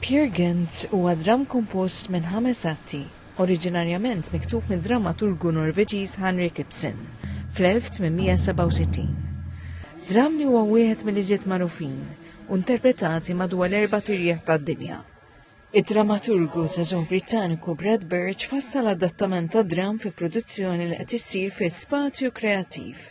Peer Gynt huwa dramm kompost minn ħames atti, oriġinarjament miktub mid-drammaturgu Norveġiż Hanrik Ibsen fl-1867. Dramm li huwa wieħed mill-iżjed magħrufin u interpretati madwar l-erbat irjieħ tad-dinja. Id-drammaturgu żagħżugħ Brittaniku Brad Birch fassal adattament tad-dramm fi produzzjoni li qed issir fi Spazju Kreattiv.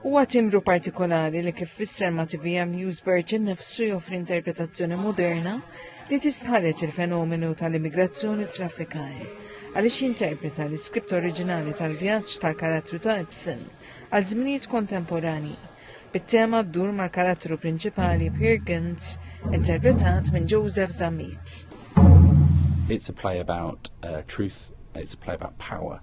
Huwa timbru partikolari li kif fisser ma' TVM Newsbird innifsu joffri interpretazzjoni moderna li tistħarreġ il-fenomenu tal-immigrazzjoni u traffikar, għaliex jinterpreta l-iskript oriġinali tal-vjaġġ tal-karattru ta' Ibsen għal żminijiet kontemporanji, bit-tema ddur mal-karattru prinċipali Peer Gynt interpretat minn Joseph Zammit. It's a play about uh, truth, it's a play about power,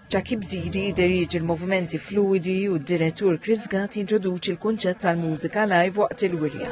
Jackie Bzidi jiderieġi l-movimenti fluidi u d-direttur Chris Gatt jintroduċi l-kunċett tal-mużika live waqt il-wirja.